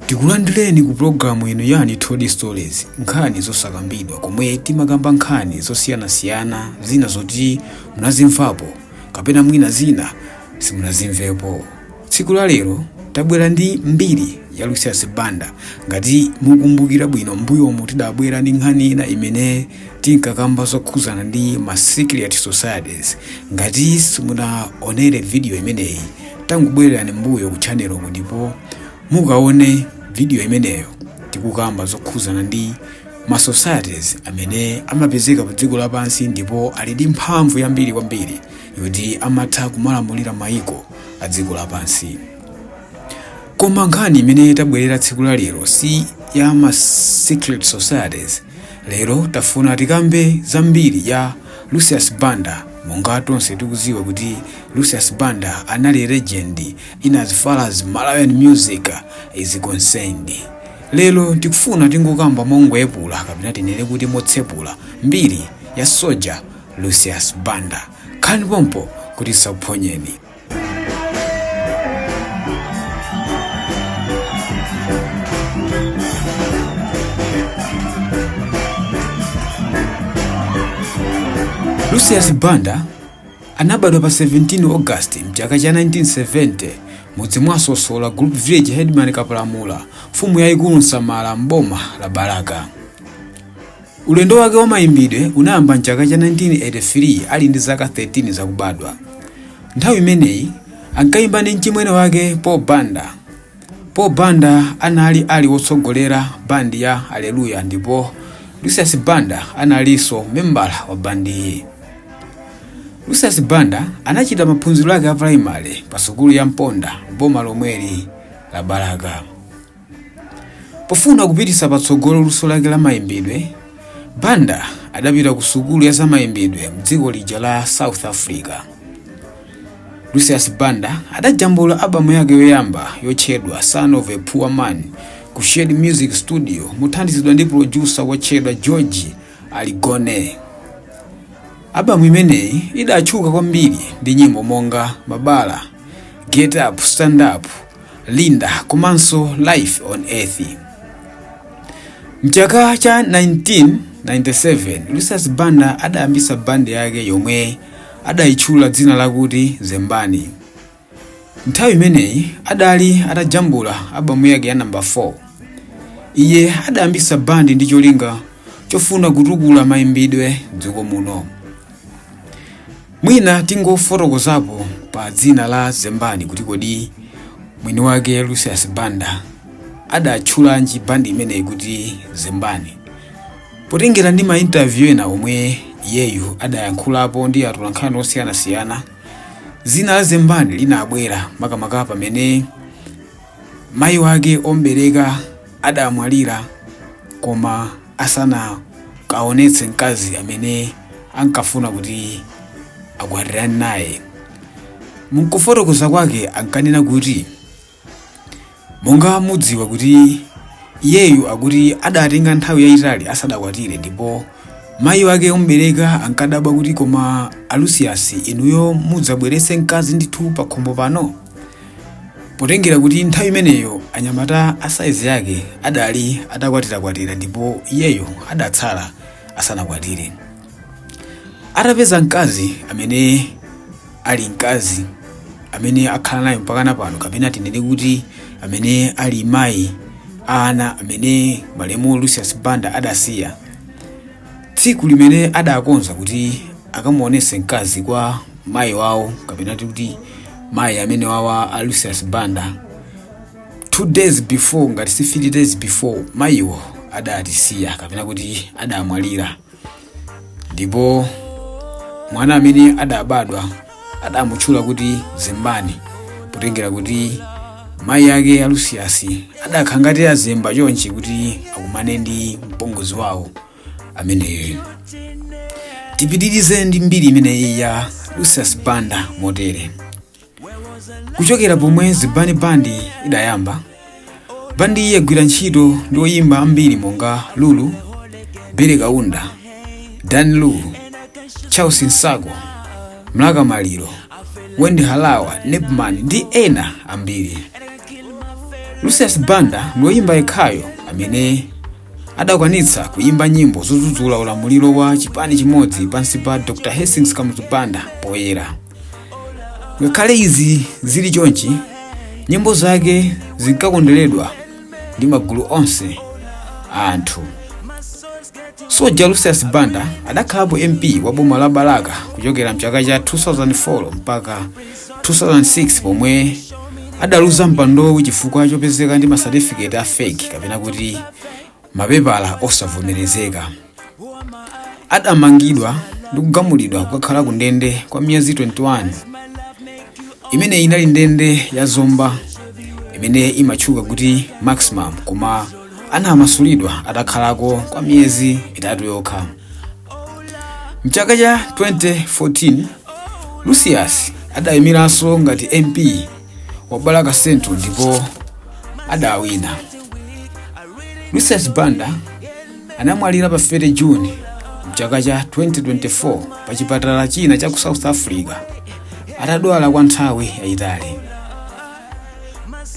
tikulandireni ku pulogalamu ino ya Untold Stories nkhani zosakambidwa komwe timakamba nkhani zosiyanasiyana zina zoti munazimvapo kapena mwina zina simunazimvepo Tsiku la lero tabwera ndi mbiri ya Lucius Banda. Ngati mukumbukira bwino m'mbuyomu tidabwera ndi nkhani ina imene tinkakamba zokhuzana ndi ma secret societies. Ngati simunaonere video imeneyi tangobwererani m'mbuyo ku channel uku ndipo mukaone video imeneyo tikukamba zokhuzana ndi ma societies amene amapezeka pa dziko lapansi ndipo ali ndi mphamvu yambiri kwambiri yoti amatha kumalamulira mayiko a dziko lapansi. Koma nkhani imene tabwerera tsiku la lero si ya ma secret societies. Lero tafuna tikambe za mbiri ya Lucius Banda monga tonse tikuziwa kuti Lucius Banda anali legend in as far as Malawian music is concerned. Lero tikufuna tingokamba mongoyepula kapena tinene kuti motsepula mbiri ya soja lucius banda khalani pompo kuti tisakuphonyeni lucius banda anabadwa pa 17 august mchaka cha 1970 mudzi mwa sosola group village headman kapalamula mfumu yayikulu nsamala mboma la balaka Ulendo wake wa maimbidwe unayamba m'chaka cha 1983 ali ndi zaka 13 zakubadwa. Nthawi imeneyi, ankaimba ndi mchimwene wake Paul Banda. Paul Banda anali ali wotsogolera bandi ya Aleluya ndipo Lucius Banda analinso membala wa bandiyi. Lucius Banda anachita maphunziro ake a pulaimale pa sukulu ya Mponda boma lomweli la Balaka. Pofuna kupititsa patsogolo luso lake la maimbidwe, Banda adapita ku sukulu ya zamaimbidwe m'dziko lija la South Africa. Lucius Banda adajambula abamu yake yoyamba yotchedwa Son of a Poor Man ku Shed Music Studio mothandizidwa ndi producer wotchedwa George Aligone. Abamu imeneyi idatchuka kwambiri ndi nyimbo monga Mabala, Get Up, Stand Up, Linda komanso Life on Earth. Mchaka cha 1997 Lucius Banda adayambisa bandi yake yomwe adayitchula dzina lakuti Zembani. Nthawi imeneyi adali atajambula abamu yake ya namba 4. Iye adayambisa bandi ndi cholinga chofuna kutukula mayimbidwe dziko muno. Mwina tingofotokozapo pa dzina la Zembani kuti kodi mwini wake Lucius Banda adatchulanji bandi imeneyi kuti Zembani. Potengera ndi ma interview ena omwe iyeyu adayankhulapo ndi atolankhani osiyanasiyana, dzina la Zembani linabwera makamaka pamene Mayi wake om'bereka adamwalira koma asanakaonetse mkazi amene ankafuna kuti akwatirane naye. M'kufotokoza kwake ankanena kuti, Monga mudziwa kuti iyeyu akuti adatenga nthawi yayitali asadakwatire ndipo mayi wake om'bereka ankadabwa kuti koma a Lucius inuyo mudzabweretsa mkazi ndithu pakhomo pano? Potengera kuti nthawi imeneyo anyamata a saizi yake adali atakwatirakwatira ndipo iyeyo adatsala asanakwatire. Atapeza mkazi amene ali mkazi amene akhala naye mpakana pano kapena tinene kuti amene ali mayi a ana amene malemu Lucius Banda adasiya, tsiku limene adakonza kuti akamuonese mkazi kwa mayi wawo kapena titi kuti mayi amenewa a lucius banda two days before ngati si three days before mayiwo adatisiya kapena kuti adamwalira ndipo mwana amene adabadwa adamutchula kuti zembani potengera kuti mayi ake a lucius adakhala ngati azemba chonchi kuti akumane ndi mpongozi wawo ameneyo tipitirize ndi mbiri imeneyi ya lucius banda motere kuchokera pomwe zembani bandi idayamba bandiyi yagwira ntchito ndi oyimba ambiri monga lulu billy kaunda dan lu charles nsaku mlaka maliro wendy harawa nepman ndi ena ambiri lucius banda ndi oyimba yekhayo amene adakwanitsa kuyimba nyimbo zodzudzula ulamuliro wa chipani chimodzi pansi pa dr hastings kamuzu banda poyera ngakhale izi zili chonchi nyimbo zake zinkakonderedwa ndi magulu onse a anthu soja lucius banda adakhalapo mp wa boma la balaka kuchokera mchaka cha 2004 mpaka 2006 pomwe adaluza mpandowu chifukwa chopezeka ndi masatifiketi a fake kapena kuti mapepala osavomerezeka adamangidwa ndi kugamulidwa kukakhala ku ndende kwa miyezi 21 imene inali ndende ya zomba imene imatchuka kuti maximum koma anamasulidwa atakhalako kwa miyezi itatu yokha mchaka cha 2014 lucius adayimiranso ngati mp wa balaka central ndipo adawina lucius banda anamwalira pa 30 juni mchaka cha 2024 pa chipatala china cha ku south africa atadwala kwa nthawi yayitali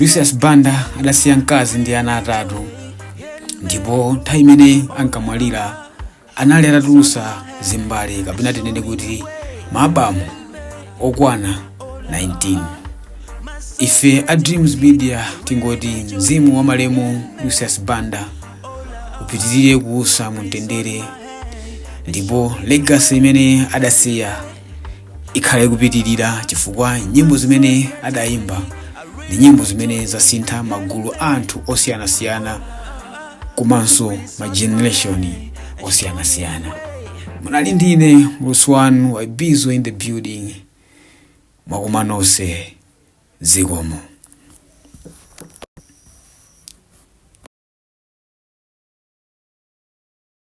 lucius banda adasiya mkazi ndi ana atatu ndipo nthawi imene ankamwalira anali atatulutsa zimbale kapena tinene kuti maabamu okwana 19 ife a dreams media tingoti mzimu wa malemu lucius banda upitirire kuusa mumtendere ndipo legacy imene adasiya ikhale ikupitirira chifukwa nyimbo zimene adayimba ndi nyimbo zimene zasintha magulu a anthu osiyanasiyana komanso ma generation osiyanasiyana munali ndi ine muulutsi wanu wa bizo in the building mwakoma nonse zikomo